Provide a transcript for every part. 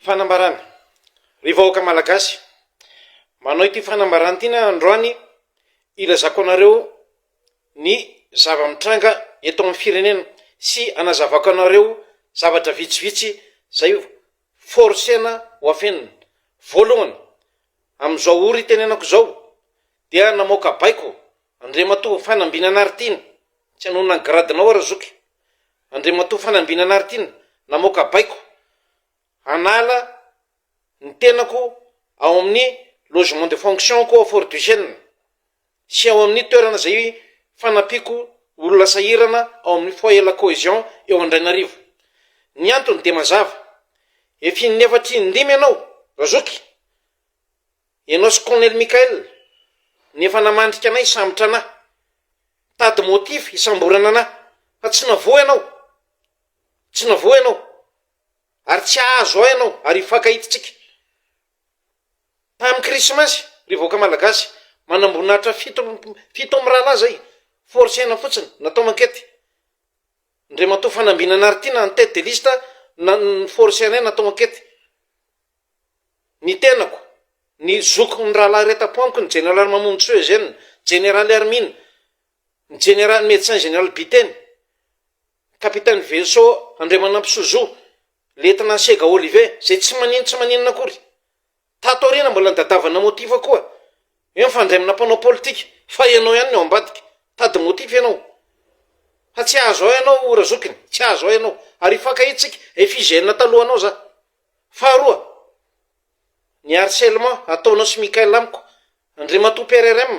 Fanambarana, Ry vahoaka Malagasy, manao ity fanambarana ity aho androany hilazako anareo ny zava-mitranga eto amin'ny firenena sy hanazavako anareo zavatra vitsivitsy izay forcena ho afenina. Voalohany, amin'izao ory itenenako izao dia namoaka baiko Andriamatoa Fanambinanaritiana, tsy hanohina ny gradinao aho Razoky. Andriamatoa Fanambinanaritiana, namoaka baiko hanala ny tenako ao amin'ny logement de fonction-ko ao Fort du Chêne sy ao amin'ny toerana izay fanampiako olona sahirana ao amin'ny Foyer La Cohésion eo Andrainarivo. Ny antony dia mazava, efa in-efatra in-dimy ianao Razoky, Ianao sy Colonel Michael no efa namandrika anay hisambotra anà. Mitady motif hisamborana anà. Fa tsy navoa ianao. Tsy navoa ianao. Ary tsy hahazo ahy ianao ary hifankahidintsika. Tamin'ny Krismasy, ry vahoaka Malagasy, manamboninahitra fito amby fito amby rahalahy izay, forcer-na fotsiny, natao mankety. Andriamatoa Fanambinana Artina en tête de liste no na-, no ni-forcer anay natao ankety. ny tenako, ny zokin'ny rahalahy iray tapo amiko, ny jeneraly Mamonjisoa Eugène, jeneraly Hermine, ny jeneraly Médecin Général Biteny, Capitaine Veso Andriamanampo Sozo, Lieutenant Sega Olivier, izay tsy manino tsy maninona akory. Tato aoriana mbola nidadavana motif koa. Eo mifandray amina mpanao politika, fa ianao ihany ny ao ambadika. Tady motif ianao. Fa tsy ahazo ahy ianao Razokiny, tsy ahazo ahy ianao. Ary hifankahitsika, FIGN talohanao za. Faharoa, ny harcèlement ataonao sy Mickaël amiko, Andriamatoa PRRM,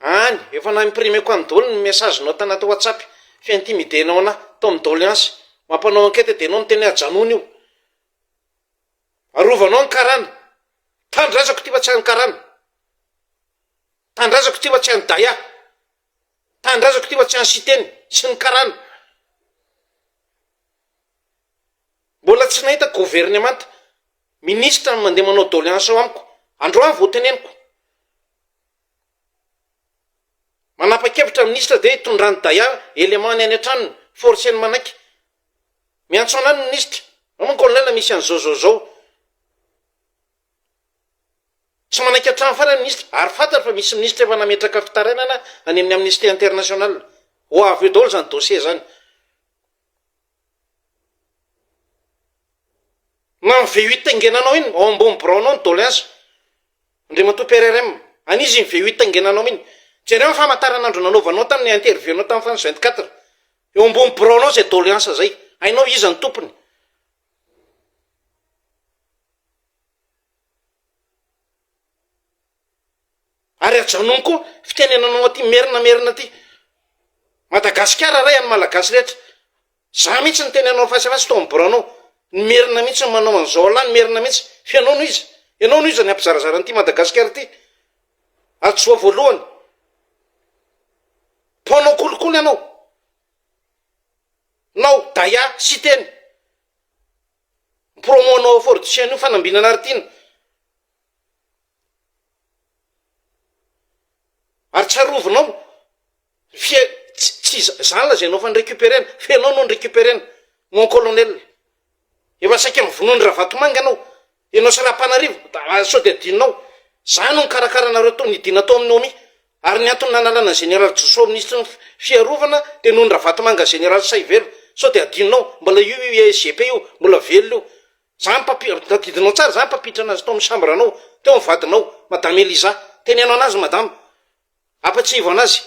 any efa na imprimeko any daholo ny message nao tanaty WhatsApp fi intimider nao anah tao amin'ny doléance, mampanao enquête dia enao miteny hoe ajanony io, arovanao ny karana, tanindrazako ity fa tsy any karana, tanindrazako ity fa tsy any daya, tanindrazako ity fa tsy any siteny sy ny karana. Mbola tsy nahita governemanta, ministra no mandeha manao doléance ao amiko, androany vao teneniko. Manapa-kevitra ny ministra dia itondrany daya élément ny any an-tranony, forceny manaiky. Miantso anay ny ministra, ao manko anay la misy an'izao zao zao. Tsy manaiky hatrany farany ny ministra, ary fantany fa misy ministra efa nametraka fitarainana any amin'ny Amnesty International. Ho avy eo daholo izany dossier izany. Manome VU taingenanao iny ao ambony biraonao ny doléance, Andriamatoa PRRM. Any izy iny VU taingenanao iny. Jereo ny famantaranandro nanaovanao tamin'ny interview-nao tamin'ny France 24. Eo ambony biraonao izay doléance izay. Hainao iza no tompony. Ary ajanony koa fitenenanao aty merina merina aty. Madagasikara ray an'ny malagasy rehetra. Za mihitsy niteny anao face à face tao amin'ny biraonao. Ny merina mihitsy no manao an'izao alah ny merina mihitsy. Fa ianao no iza? Ianao no iza ny hampizarazara an'ity madagasikara ity? Hadisoa voalohany. Mpanao kolikoly ianao. Nao daya siteny. Promo anao fortifier an'io fanambinana ary tiana. Ary tsarovinao, fia- ts- tsy za- zany lazainao anao fa ni-recuperer-na, fa ianao no ni-recuperer-na, mon colonel. Efa saika mivonoa an'i Ravatomanga ianao, ianao sy Rapanarivo, da sao dia adinonao. Za no nikarakara anareo tao, nidina tao amin'ny OMI. Ary ny antony nanalana an'i Général Joso minisitry ny Fiarovana dia noho an'i Ravatomanga Général Sahivelo. Sao dia adinonao? Mbola io io ISGP io, mbola velona io. Za no mpampi-, tadidinao tsara, za no mpampiditra anazy tao amin'ny chambre anao, teo ny vadinao, madame Eliza, teneno anazy madama, ampatsiahivo anazy,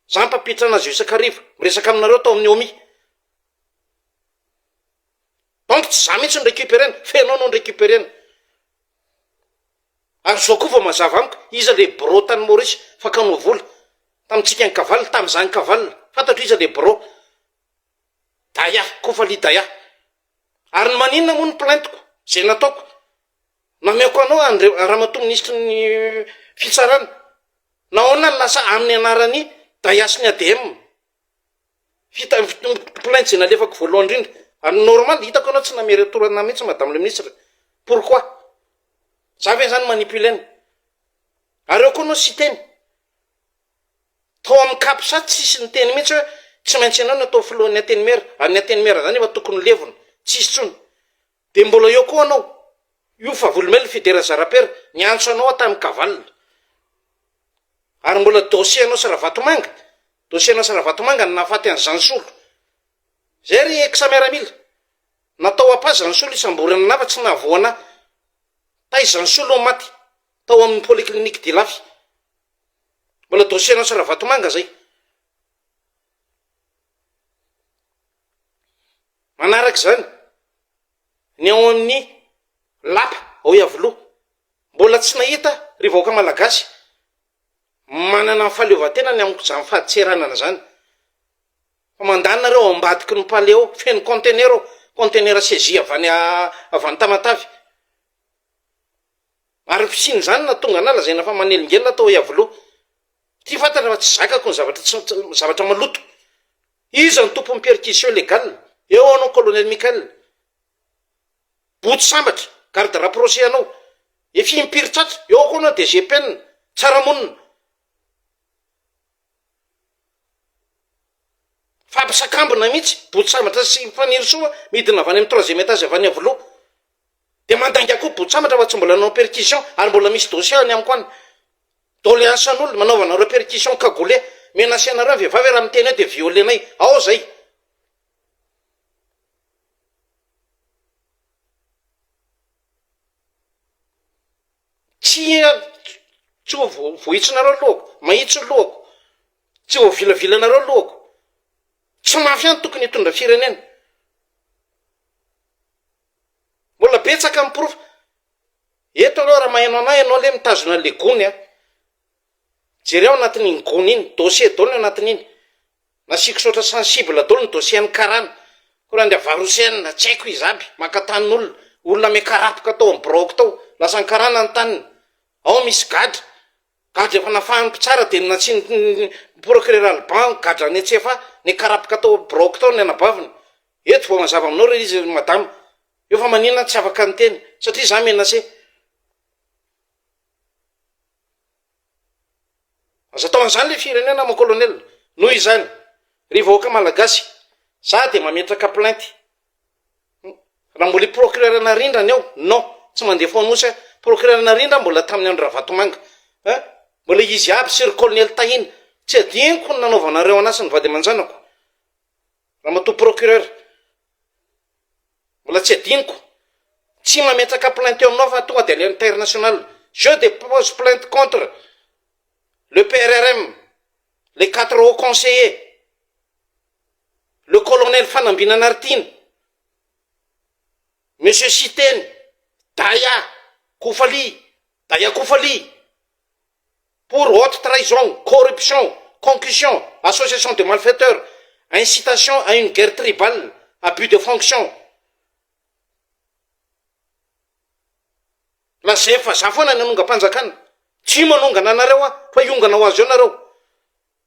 za no mpampiditra anazy eo isak'hariva, miresaka aminareo tao amin'ny omi, donc tsy za mihintsy no recuperer-na, fa ianao no recuperer-na, ary zao koa vao mazava amiko, iza le birao tany Maorisy fakanao vola, tamintsika ankavalona, tamin'iza ankavalona, fantatro iza le birao, Daya, Kofali Daya, Ary ny maninona moa ny plaintiko, izay nataoko? Nameako anao an'ireo Ramatoa Minisitry ny Fitsarana. Nahoana no lasa amin'ny anaran'i Daya sy ny ADM fita- plainte izay nalefako voalohany indrindra? Ary normal, hitako ianao tsy nameretor an'ahy mihitsy Madame le Ministre, pourquoi? Za ve izany manipuler-na? Ary ao koa ianao Siteny, Tao amin'ny Capsat tsisy niteny mihitsy hoe tsy maintsy ianao no atao filohan'ny Antenimiera, ary ny Antenimiera izany efa tokony ho levona, tsy hisy intsony. Dia mbola eo koa anao, io Favolombelona Fidera Zarapera niantso anao aho tamin'ny Kaval. Ary mbola dossier anao sy Ravatomanga, dossier anao sy Ravatomanga no nahafaty an'i Zansolo. Izay ry Ex Miaramila. Natao apa Zansolo hisamborana anah fa tsy nahavoa anah. Taiza ny soa loha maty. tao amin'ny polyclinique d'Ilafy. Mbola dossier an'i Ravatomanga izay. Manaraka izany, ny ao amin'ny lapa ao Iavoloha, mbola tsy nahita ry vahoaka malagasy manana ny fahaleovantena ny amin'ny izany fadintseranana izany. Fa mandà nareo ao ambadiky ny palais ao, feno conteneur ao, conteneur saisie avy any avy any Tamatave. Ary ny fisian'izany nahatonga anà lazaina fa manelingelina tao Iavoloha. Ty fantatra fa tsy zakako ny zavatra tsy tsy zavatra maloto. Iza ny tompon'ny perquisition légale? Eo anao Colonel Michael. Boto sambatra, garde rapproché anao. Efa impiry tratra. Eo koa anao DG Penina. Tsara monina. Fampisakambina mihitsy. Boto sambatra sy Fanirisoa midina avy any amin'ny troisième étage avy any Iavoloha. Dia mandainga koa botsambatra fa tsy mbola nanao percussion ary mbola misy dossier any amiko any. Doléance an'olona, manaovanareo percussion cagoulé. Menacer anareo ny vehivavy hoe raha miteny eo dia violer-nay. Ao zay. Tsy tsy ho vohitsinareo lohako, mahitsy ny lohako. Tsy ho vilavilanareo ny lohako. Tsy mafia no tokony hitondra firenena. Mbola betsaka ny porofo. Eto aloha raha maheno anah ianao lé mitazona an'le gony an. Jereo ao anatin'iny gony iny, dossier daholo ny anatin'iny. Nasiako saotra sensible daholo ny dossier an'ny karana. Koa raha an-dRahavary Houssen, tsy haiko izy aby, maka tanin'olona. Olona miakarapoka tao amin'ny biraoko tao. Lasan'ny karana ny taniny. Ao misy gadra. Gadra efa nafahan'ny mpitsara dia natsinon'ny procureur Alban gadra any an-tsefa nikarapoka tao biraoko tao ny anabaviny. Eto vao mazava aminao re izy ry madama. Eo fa manina aho tsy afaka niteny satria za menacé. Aza atao an'izany ilay firenena mon colonel. Noho izany, ry vahoaka malagasy, za dia mametraka plainte Raha mbola i procureur Narindra ny ao, non, tsy mandeha Foanosy aho, procureur Narindra mbola tamin'ny andro Ravatomanga, eh, mbola izy aby sy ry colonel Tahina, tsy adinoko ny nanaovanareo an'ahy sy ny vady aman-janako, ramatoa procureur, mbola tsy adinoko, tsy mametraka plainte eo aminao fa tonga dia aleo international, je depose plainte contre le PRRM, les quatre hauts conseillers. le colonel Fanambinanaritiana, monsieur Siteny, Daya, Kofaly, Daya Kofaly, pour haute trahison, corruption, concussion, association de malfaiteurs, incitation à une guerre tribale, abus de fonction. Lazainy fa za foana ny hanongam-panjakana. Tsy manongana anareo aho fa hiongana ho azy eo nareo.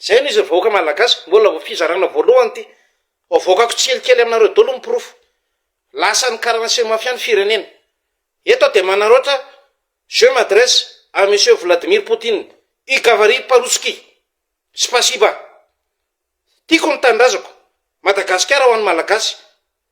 Zay no izy ry vahoaka malagasy, mbola vao fizarana voalohany ity, avoakako tsikelikely aminareo daholo ny porofo, lasan'ny karana sy ny mafia ny firenena, eto aho dia manaraotra, je m'adresse à monsieur Vladimir Poutine, i gavary parotsky, spasiba, tiako ny tanindrazako, Madagasikara ho an'ny malagasy.